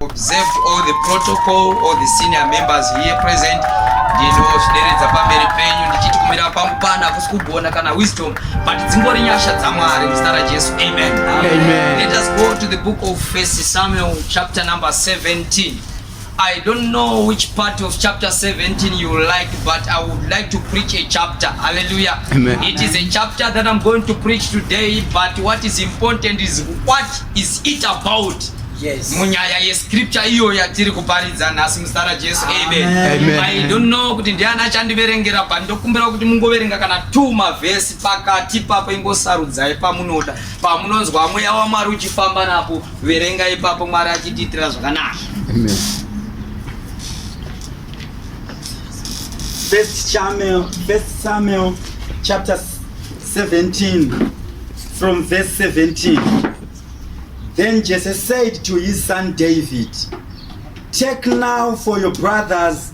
observed all the protocol all the senior members here present ndinosvideredza pamberi penyu ndichiti kumira kwangu pana hakusi kugona kana wisdom but dzingori nyasha dzamwari muzita rajesu amen. amen let us go to the book of first samuel chapter number 17 I don't know which part of chapter 17 you like, but I would like to preach a chapter. Hallelujah. Amen. It is a chapter that I'm going to preach today, but what is important is what is it about? Yes. munyaya yescripture iyo yatiri kuparidza nhasi muzita rajesu amen. Amen. i don't know kuti ndiani achandiverengera but ndokumbira kuti mungoverenga kana two mavhesi pakati papo ingosarudzai pamunoda pamunonzwa mweya wamwari uchifamba napo verenga ipapo mwari achitiitira zvakanaka First Samuel, First Samuel chapter 17 from verse 17. Then Jesse said to his son David, Take now for your brothers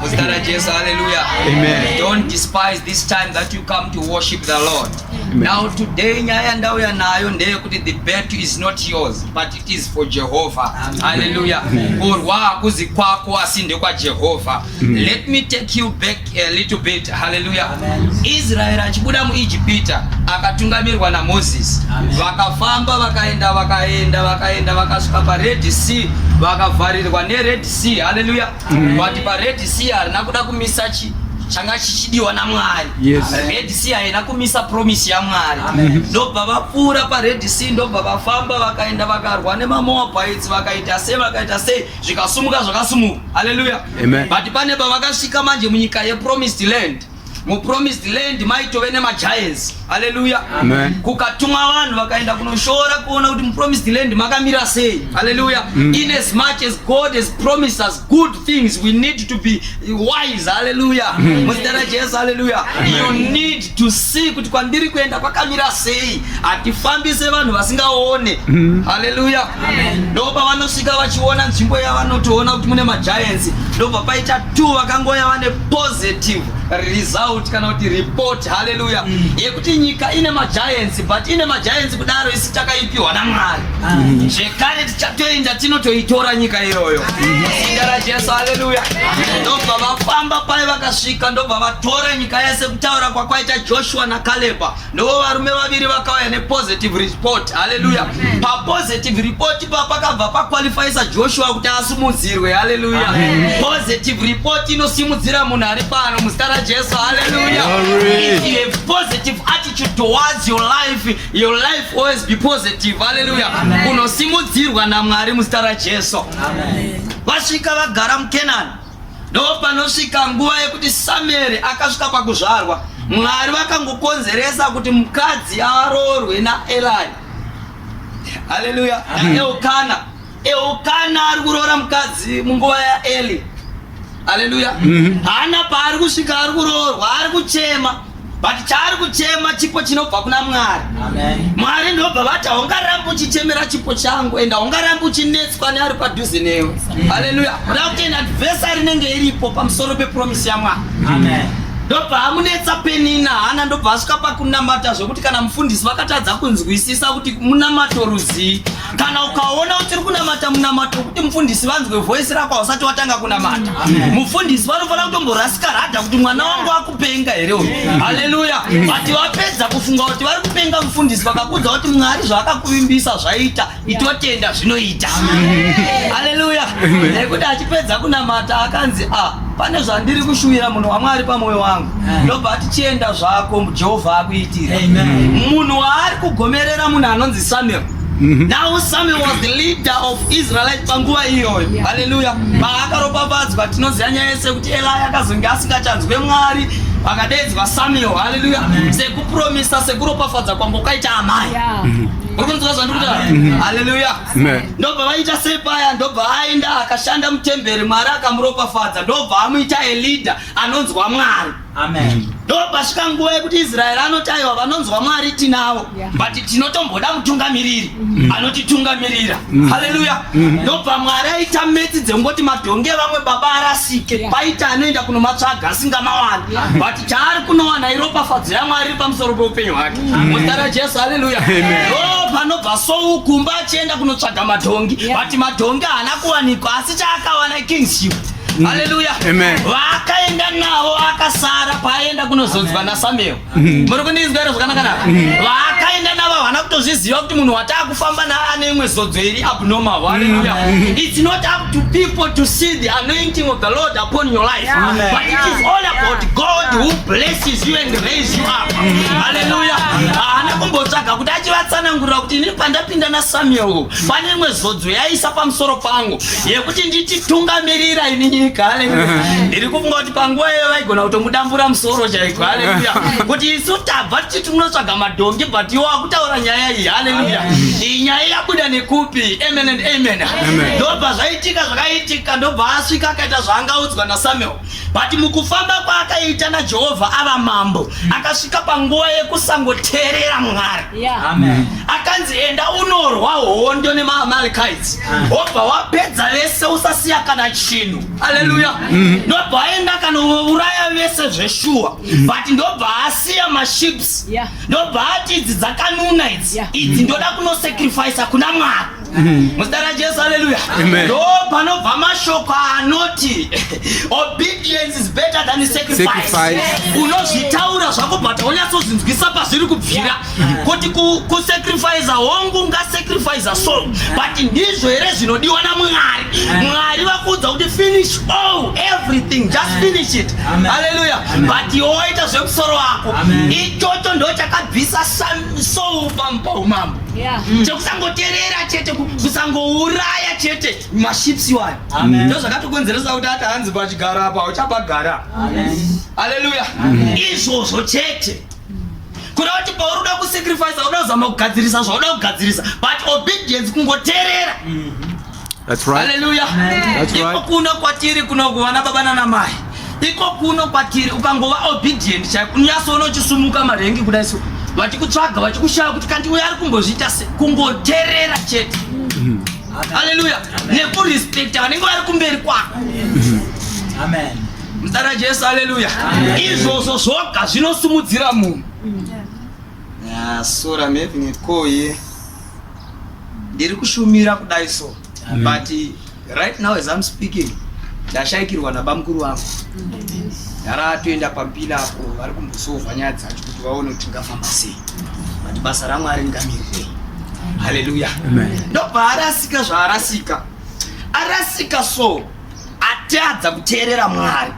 Muzita raJesu, hallelujah. Amen. Don't despise this time that you come to worship the Lord. Amen. Now today nyaya ndauya nayo ndeyekuti the battle is not yours but it is for Jehovah. Amen. Hallelujah. Kurwa hakuzi kwako asi ndekwaJehovah. Let me take you back a little bit. Hallelujah. Amen. Israel achibuda muIjipita akatungamirwa naMoses. Vakafamba vakaenda vakaenda vakaenda vakasvika paRed Sea vakavharirwa neRed Sea. Hallelujah. mm. but pared sea harina kuda kumisa chi changa chichidiwa namwari yes. red sea haina kumisa promise yamwari mm-hmm. ndobva vapfuura pared sea ndobva vafamba vakaenda vakarwa nemamoabites vakaita sei vakaita sei zvikasumuka zvakasumuka haleluya but pane pavakasvika manje munyika yepromised land mu promised land maitove nema giants haleluya kukatumwa vanhu vakaenda kunoshora kuona kuti mu promised land makamira sei haleluya mm. in as much as god has promised us good things we need to be wise haleluya mm. muzita ra jesu haleluya you need to see kuti kwandiri kuenda kwakamira sei hatifambise vanhu vasingaone mm. haleluya ndopa vanosvika vachiona nzvimbo yavanotoona kuti mune ma giants ndobva paita two vakangoya vane positive result kana kuti report haleluya mm. yekuti nyika ine magiants but ine magiants kudaro isi takaipiwa namwari mm. zvekare tichatoenda tinotoitora nyika iyoyo zita rajesu haleluya ndobva vafamba paye vakasvika ndobva vatora nyika yese kutaura kwakwaita joshua nakaleba Ndiwo varume vaviri vakauya nepositive report. Haleluya. Papositive report pa pakabva paqualifyisa Joshua kuti asimudzirwe. Haleluya. Positive report inosimudzira munhu ari pano muzita raJesu. Haleluya. If you have positive attitude towards your life, your life always be positive. Haleluya. Unosimudzirwa naMwari muzita raJesu. Vasvika vagara muKenani. Ndopanosvika nguva yekuti Samueri akasvika pakuzvarwa. Mwari vakangokonzeresa kuti mukadzi aroorwe naElai. Haleluya. Eukana. Eukana ari kuroora mukadzi munguva yaEli. Haleluya. Mhm. Hana paari kusvika ari kuroorwa, ari kuchema. but chaari kuchema chipo chinobva kuna mwari mwari ndobva vati haungarambi uchichemera chipo changu ende haungarambi uchinetswa neari padhuze newe haleluya kuda kuti ena advesari inenge iripo pamusoro pepromisi yamwari ndobva amunetsa penina hana ndobva asvika pakunamata zvekuti kana mufundisi vakatadza kunzwisisa kuti munamato rudzii kana ukaona kuti uri kunamata munamato wekuti mufundisi vanzwe voisi rako hausati watanga kunamata mufundisi vanofanira kutomborasika rada kuti mwana wangu wako kupenga here uyu haleluya vati vapedza kufunga kuti vari kupenga mufundisi vakakudza kuti mwari zvaakakuvimbisa zvaita itotenda zvinoita haleluya nekuti achipedza kunamata akanzi a ah, pane zvandiri kushuvira munhu wamwari pamwoyo wangu ndobva ati chienda zvako jehovha akuitira munhu waari kugomerera munhu anonzi samuel Mhm. Now Samuel was the leader of Israelite panguva iyoyo. Hallelujah. Paakaropafadzwa tinoziva nyaya yese kuti Eli akazonge asingachanzwe Mwari akadeedzwa Samuel. Hallelujah. Sekupromisa sekuropafadza kwanga kwakaita amai. Mhm. Uri kunzwa zvandiri kutaura? Mhm. Hallelujah. Ndobva vaita sei paya ndobva aenda akashanda mutemberi Mwari akamuropafadza ndobva amuita a leader anonzwa Mwari. Amen. Ndopasvika nguva yekuti Israeri anoti aiwa vanonzwa Mwari tinavo yeah. but tinotomboda mutungamiriri mm. anotitungamirira mm. haleluya mm. ndobva Mwari aita metsi dzekungoti madhongi evamwe baba arasike yeah. paita anoenda kunomatsvaga asingamawana yeah. but chaari kunowana iropafadzo yaMwari iri pamusoro peupenyu hwake muzita raJesu haleluya panobva sou kumba achienda kunotsvaga madhongi yeah. but madhongi haana kuwanikwa asi chaakawana kingship Mm. haleluya vaakaenda navo akasara paaenda kunozonzwa nasamuel mm. muri kundinzwa iro zvakanaka navo mm. vaakaenda navo havana kutozviziva kuti munhu wataa kufamba naane imwe zodzo iri abnormal haleluya its not up to people to see the anointing of the lord upon your life yeah. but it is all about god yeah. who blesses you and raise you up haleluya haana kumbotsvaga kuti achivatsanangurira kuti ini pandapinda nasamuel pane imwe zodzo yaisa pamusoro pangu yekuti ndichitungamirira ini nyika haleluya ndiri kufunga kuti panguva iyoyo vaigona kutomudambura musoro chaiko haleluya kuti isu tabva tichiti munotsvaga madhongi but iwo akutaura nyaya iyi haleluya iyi nyaya yabuda nekupi amen and amen ndobva zvaitika zvakaitika ndobva asvika akaita zvaangaudzwa nasamuel but mukufamba kwaakaita najehovha ava mambo akasvika panguva yekusangoteerera mwari akanzi enda unorwa hondo nemaamalikaiti obva wapedza vese usasiya kana chinhu aleluya mm-hmm. ndobva aenda kanouraya vese zveshuwa mm-hmm. but ndobva asiya maships ndobva ati idzi dzakanuna idzi idzi ndoda kunosacrifica kuna mwari Mm-hmm. muzita rajesu haleluya ndo panobva mashoko anoti obedience is better than sacrifice unozvitaura zvako but haunyatsozvinzwisa pazviri kubvira mm-hmm. kuti kusacrifica hongu ngasacrifica so but ndizvo here zvinodiwa namwari mm-hmm. mwari vakuudza kuti finish all everything just finish it haleluya but yoita zvemusoro wako ichocho ndo chakabvisa soul pamumambo Yeah. Mm. chekusangoterera chete kusangouraya chete maships iwayo ndo zvakatokonzeresa kuti ati hanzi pachigara apa uchapagara aleluya izvozvo chete kuda kuti pauruda kusacrifice uda kuzama kugadzirisa zvauda kugadzirisa but obedience kungoterera mm -hmm. That's right. Hallelujah. That's right. Iko kuno kwatiri kuno kuvana baba nana mai. Iko kuno kwatiri ukangova obedient chaiko unyasoona uchisumuka marengi kudai so. Vachikutsvaga vachikushaya kuti kanti uyo ari kumbozviita se kungoterera chete. Mm-hmm. Hallelujah. Nekurespecta vanenge vari kumberi kwako. Mm-hmm. Amen. Mdara Jesu hallelujah. Izvozvo zvoga zvinosumudzira munhu. Yeah, sura mevine koye. ndiri kushumira kudai so mm. but right now as I'm speaking ndashaikirwa nabamukuru vangu ndara toenda pampila apo vari kumbosova nyaya dzacho kuti vaone kuti tingafamba sei but basa ramwari ndingamirirei haleluya ndopaarasika zvaarasika arasika so atadza kuteerera mwari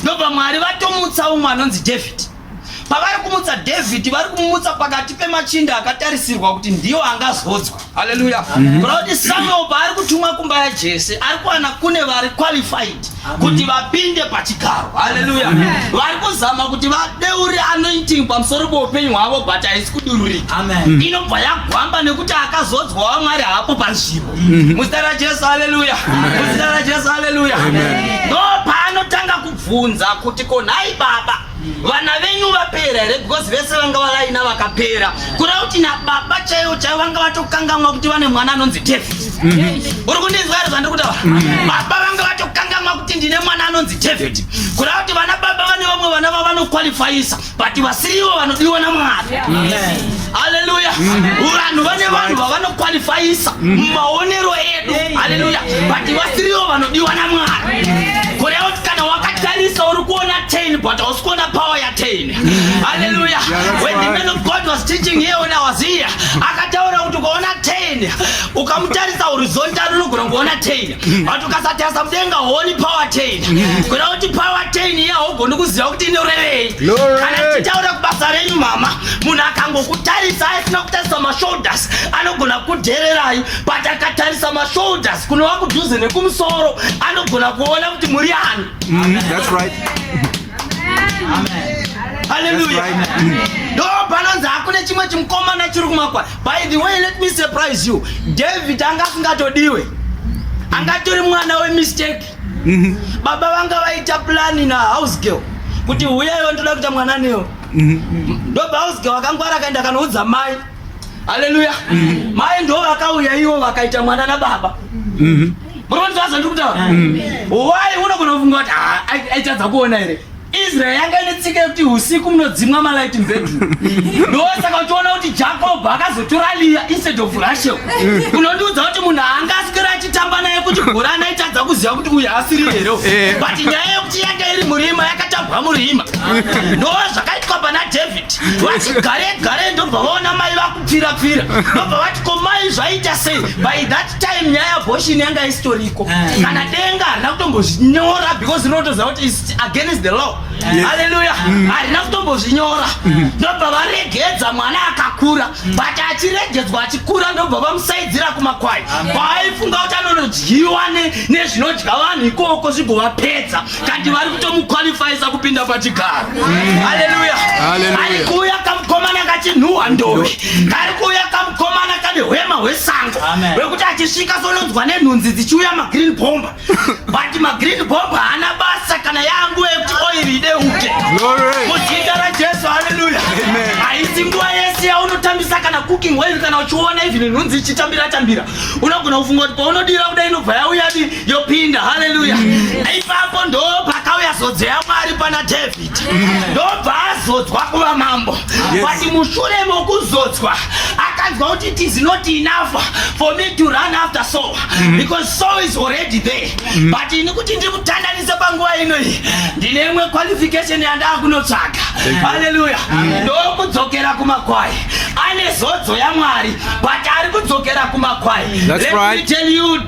ndobva mwari vatomutsa umwe anonzi david pavari kumutsa dhavhidhi vari kumutsa pakati pemachinda akatarisirwa kuti ndiwo angazodzwa haleluya kurati mhm. samuel paari kutumwa kumba yajese ari kuwana kune vari qualified kuti vapinde pachigaro haleluya vari kuzama kuti vadeure anointing pamusoro peupenyu hwavo but haisi kudururika mhm. inobva yagwamba nekuti akazodzwa wamwari hapo panzvimbo mhm. muzita rajesu haleluya muzita rajesu haleluya ndo paanotanga kubvunza kuti konhai baba vana venyu vapera here because vese vanga vavaina vakapera kuda kuti nababa chaivo chaivo vanga vatokangamwa kuti vane mwana anonzi tefi mhm. uri kundinzwa iri zvandiri kutaura mhm. baba vanga vatokangamwa kuti ndine mwana anonzi teveti kuda kuti vana baba vane vamwe vana vavanokwalifayisa but vasirivo vanodiwa namwari Haleluya. Vanhu vane vanhu vavanokwalifayisa mumaonero edu. Haleluya. But vasiriwo vanodiwa naMwari. Kureva kuti kana wakatarisa uri kuona 10 but hausi kuona power ya 10. Haleluya. When the man of God was teaching here when I was here, akataura kuti ukaona 10 ukamutarisa horizontal unogona kuona 10. vanhu ukasatarisa mudenga honi power chain kuda kuti power chain iya haugoni kuziva kuti inorevei kana tichitaura kubasa renyu mama munhu akangokutarisa asina kutarisa mashoulders anogona kudhererai but akatarisa mashoulders kunova kudhuze nekumusoro anogona kuona kuti muri ani mm, haleluya ndo panonzi hakune chimwe chimukomana chiri kumakwai By the way, let me surprise you. David anga asingatodiwe. Anga tori mwana we mistake. Mhm. Baba vanga vaita plan na house girl kuti huyayo ndoda kuita mwana neyo. Mhm. Ndoba house girl akangwara kaenda kanoudza mai. Hallelujah. Mhm. Mai ndo vakauya iwo vakaita mwana na baba. Mhm. Bro, ndazondikutaura. Mhm. Why unogona kufunga kuti ah, aitadza kuona here? Israel yanga ine tsika yekuti usiku munodzimwa malight mubedroom ndosaka uchiona kuti jacob akazotora liya instead of rachel unondiudza kuti munhu anga asikira achitamba naye kuti gora anaitadza kuziva kuti uyu asiri here eh. but nyaya yekuti yanga iri murima yakatambwa murima ndo zvakaitwa pana david vati gare gare ndobva vaona mai vakupfira pfira ndobva vati komai zvaita sei by that time nyaya yabhoshini yanga isitoriko eh. kana denga harina kutombozvinyora because rinotoziva kuti against the law yes. haleluya mm. harina mm. kutombozvinyora mm. ndobva varegedza mwana akakura mm. but achiregedzwa achikura ndobva vamusaidzira kumakwai kwaaifunga kuti anonodyiwa nezvinodya vanhu ikoko zvigovapedza kandi vari kutomukwalifayisa kupinda pachigaro mm. haleluya ari kuuya kamukomana kachinhuhwa ndovi kari kuuya kamukomana kane hwema hwesango wekuti achisvika sononzwa nenhunzi dzichiuya magreen bomba but magreen bomb haana basa kana yangu yekuti oiri ideuke muzita rajesu haleluya haisi nguva yese yaunotambisa kana cooking oil kana uchiona even nhunzi ichitambira tambira unogona kufunga kuti paunodira kuda inobva yauyadi yopinda haleluya mm. ipapo ndo pakauya zodzo yamwari pana david ndobva azodzwa kuva mambo but mushure mokuzodzwa akanzwa kuti it is not enough for me to run after soul mm-hmm. because soul is already there mm-hmm. but ini kuti ndimutandanise panguva inoyi ndine imwe qualification yandaa kunotsvaga haleluya ndokudzokera kumakwai ane zodzo yamwari but ari kudzokera kumakwai let me tell you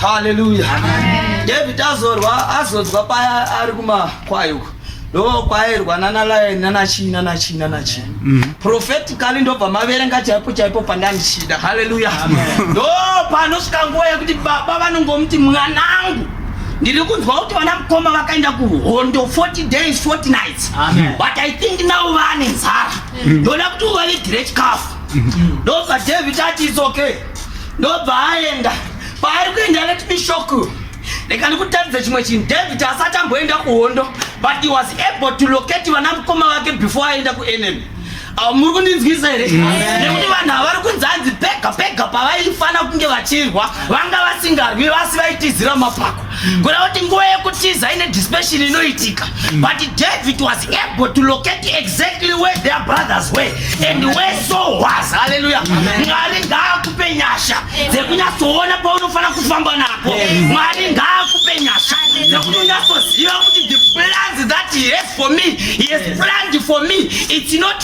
Hallelujah. Amen. David azorwa azodzwa paya ari kumakwai uko ndokwairwa nana lion nana chii nana chii nana chii mm. prophetically ndobva maverenga chaipo chaipo pandandichida haleluya ndo panosvika nguva yekuti baba vanongomuti mwanangu ndiri kunzwa kuti vana mukoma vakaenda kuhondo 40 days 40 nights Amen. but i think now vane nzara mm. ndoda kuti uvavigire chikafu ndobva david ati its okay ndobva aenda paari kuenda let me shock you reka ndikutaridze chimwe chinhu david asati amboenda kuhondo but he was able to locate vana mukoma vake before aenda kuenemy awo muri kundinzwisa here nekuti vanhu havari kunzi hanzi pega pega pavaifana kunge vachirwa vanga vasingarwi vasi vaitizira mapako kureva kuti nguva yekutiza ine dispation inoitika mm. but david was able to locate exactly where their brothers were and where so was haleluya mwari ngaakupe nyasha dzekunyatsoona paunofanira kufamba nako mwari ngaakupe nyasha dzekuti unyatsoziva kuti the plans that he has for me he has planned for me it's not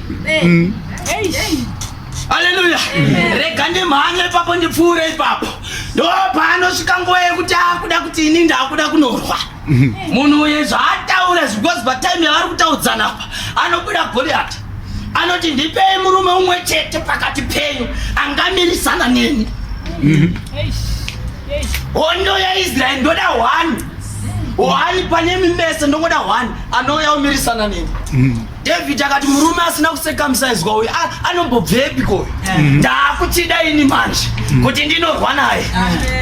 Mm. Haleluya. Rega ndimhanye ipapo ndipfuure ipapo. Ndopaanosvika nguva yekuti akuda kuti ini ndakuda kunorwa. Mm. Munhu uye zvaataura zvikozi patime yavari kutaudzana apa anobuda Goliati. Anoti ndipei murume umwe chete pakati penyu angamirisana neni. Mm. Hondo yaIsraeri ndoda one. One pane mimese ndongoda one anouya omirisana neni. David akati murume asina kusekamsaizwa uyu anombobvepiko uyu mm-hmm. ndaakuchida ini manje mm-hmm. kuti ndinorwa naye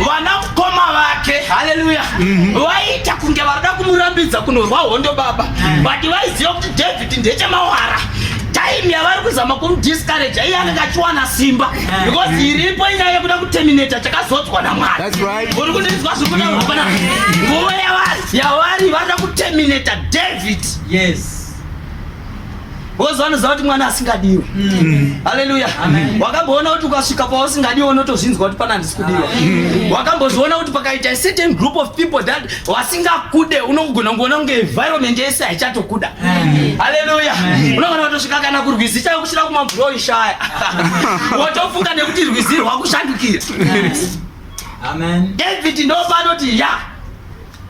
vana mukoma vake haleluya mm-hmm. vaiita kunge varida kumurambidza kunorwa hondo baba but vaiziva kuti david ndechemawara time yavari kuzama kumudiscourage iye anenge achiwana simba eh. because iripo inyaya yekuda kuterminata chakazodzwa namwari uri kundinzwa zvikuda hapana nguva yavari yavari varida kuterminata david yes Wozo anoziva kuti mwana asingadiwe. Mm. Haleluya. Wakamboona kuti ukasvika pausingadiwe unotozvinzwa kuti pana handisi kudiwa. Mm. Wakambozviona kuti pakaita a certain group of people that wasingakude unogona kungoona kunge environment yese haichatokuda. Haleluya. Unogona kutosvika kana kurwizi chaiko kusvira kumabhuroyi shaya. Wotofunga nekuti rwizi rwakushandukira. Amen. David ndopanoti ya. Yeah.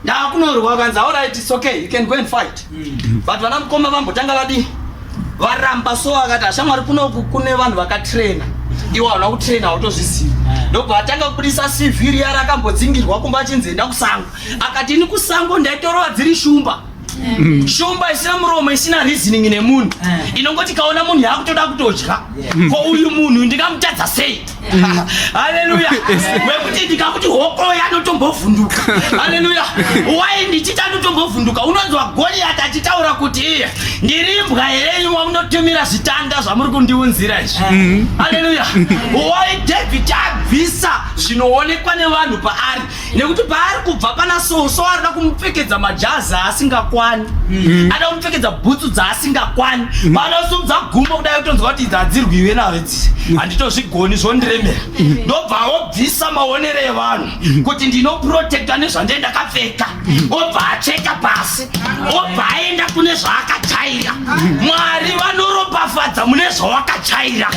ndakunorwa vakanzi alright it's okay you can go and fight mm. but vana mukoma vambotanga vadii varamba so akati ashamwari kunoku kune vanhu vakatraina iwo havana kutraina hautozvizivi eh. ndobva atanga kubudisa cv riya rakambodzingirwa kumba achinzi enda kusango akati ini kusango ndaitorova dziri shumba Mm. shumba isina muromo isina reasoning nemunhu eh. inongoti kaona munhu yaakutoda kutodya ko uyu munhu ndingamutadza sei mm. haleluya wekuti ndikakuti hokoya anotombovhunduka haleluya wai ndichiti anotombovhunduka unonzwa goriyati achitaura kuti iye ndirimbwa herenyu wamunotumira zvitanda zvamuri kundiunzira izvi mm. haleluya wai david abvisa zvinoonekwa nevanhu paari nekuti paari kubva pana so so arida kumupfekedza majazi aasingakwani mm. ada kumupfekedza bhutsu dzaasingakwani mm. panosumudza gumbo kudai kutonzwa kuti idzi hadzirwiwe nayo dzisi mm. handitozvigoni zvondiremera ndobva obvisa maonero evanhu kuti ndinoprotekta nezvandee ndakapfeka obva acheka pasi obva aenda kune zvaakajaira mwari vanoropafadza mune zvawakajaira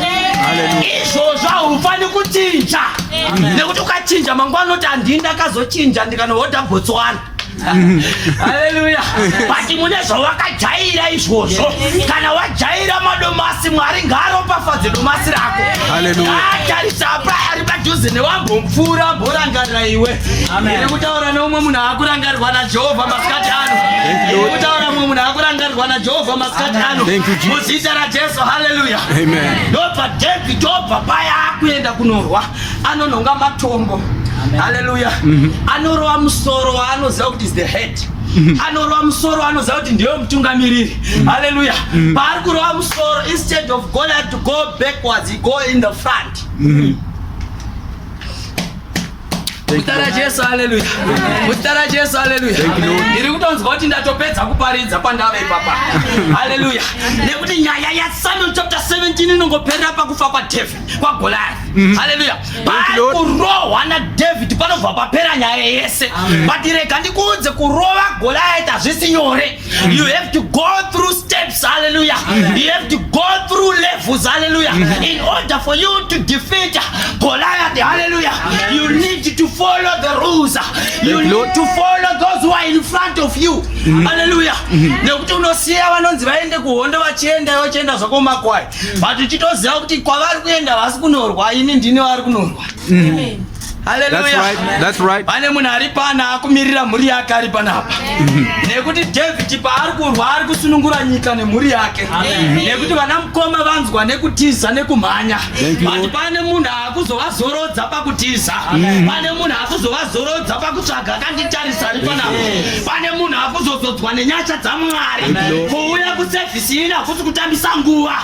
izvozvo haufani kuchinja nekuti ukachinja mangwana unoti handii ndakazochinja ndikanohodha botswana haleluya but mune zvawakajaira izvozvo kana wajaira madomasi mwari ngaaropafadze domasi rako atarisa apa ari padhuze newambomupfuura amborangarira iwe Iri kutaura neumwe munhu akurangarirwa naJehovha masikati ano. Iri kutaura mumwe munhu akurangarirwa naJehovha masikati ano. Muzita raJesu, haleluya. Ndobva David obva paya akuenda kunorwa, anonhonga matombo. Haleluya. Mhm. Anorova musoro waanoziva kuti is the head. Mhm. anorova musoro anoziva kuti ndiye mutungamiriri mhm. haleluya paari kurova musoro instead of going to go backwards he go in the front Mutara Jesu haleluya. Mutara Jesu haleluya. Ndiri kutonzwa kuti ndatopedza kuparidza pandave papa. Haleluya. Nekuti nyaya ya Samuel chapter 17 inongoperera pakufa kwa David, kwa Goliath. Mhm. Haleluya. Pakurohwa na David panobva papera nyaya yese. But rega ndikuudze kurova Goliath hazvisi nyore. You have to go through steps, hallelujah. Amen. You have to go through levels, hallelujah. Amen. In order for you to defeat Goliath, hallelujah, Amen. you need to follow the rules. You need to follow those who are in front of you. Mm-hmm. Hallelujah. Mm-hmm. Nekuti unosiya vanonzi vaende kuhondo vachienda vachienda zvako makwai. Mm-hmm. But uchitoziva kuti kwavari kuenda vasi kunorwa ini ndini vari kunorwa. Amen. pane munhu ari pana akumirira mhuri yake ari panapa nekuti davhidi paari kurwa ari kusunungura nyika nemhuri yake nekuti vana mukoma vanzwa nekutiza nekumhanya bati pane munhu akuzovazorodza pakutiza pane munhu akuzovazorodza pakutsvaga akanditarisa ari panapa pane munhu akuzozodzwa nenyasha dzamwari kuuya kusevhisi ini hakusi kutambisa nguva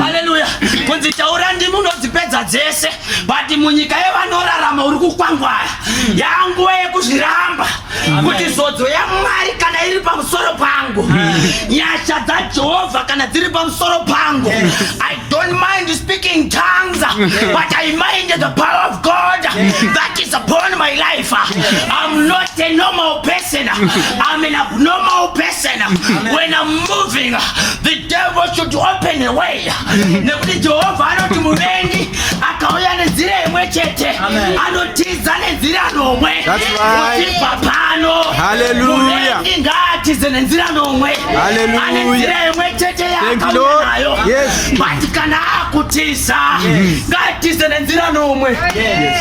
haleluya kunzi taura ndimi unodzipedza dzese but munyika yevanorarama uri kukwangwara yanguva yekuzviramba kuti zodzo yamwari kana iri pamusoro pangu nyasha dzajehovha kana dziri pamusoro pangu i don't mind speaking tongues but i mind the power of god that is upon my life i'm not a normal person i'm an abnormal person when i'm moving the Devil should open a way. Nekuti Jehovha anoti muvengi akauya nenzira imwe chete anotiza nenzira nomwe kutibva pano. Muvengi ngaatize nenzira nomwe ane nzira imwe chete yaakauya nayo. But kana akutiza ngaatize nenzira nomwe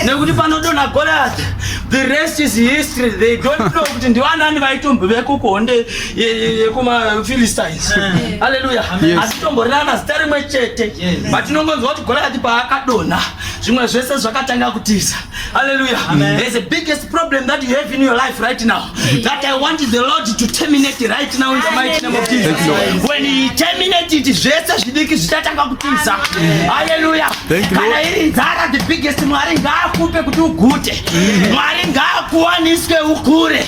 nekuti panodonha Goliath the rest is history they don't know kuti ndivanani vaitombo vekukuhonde yekumaphilistines eh. aleluya hatitomborana zita rimwe chete but tinongonzwa kuti goliathi paakadonha zvimwe zvese zvakatanga kutiza aleluya there's a biggest problem that you have in your life right now that i want the lord to terminate right now in the mighty name of jesus when he terminate it zvese zvidiki zvichatanga kutiza aleluya kana iri nzara the biggest mwari ngaakupe kuti ugute mwari ngaakuwaniswe ukure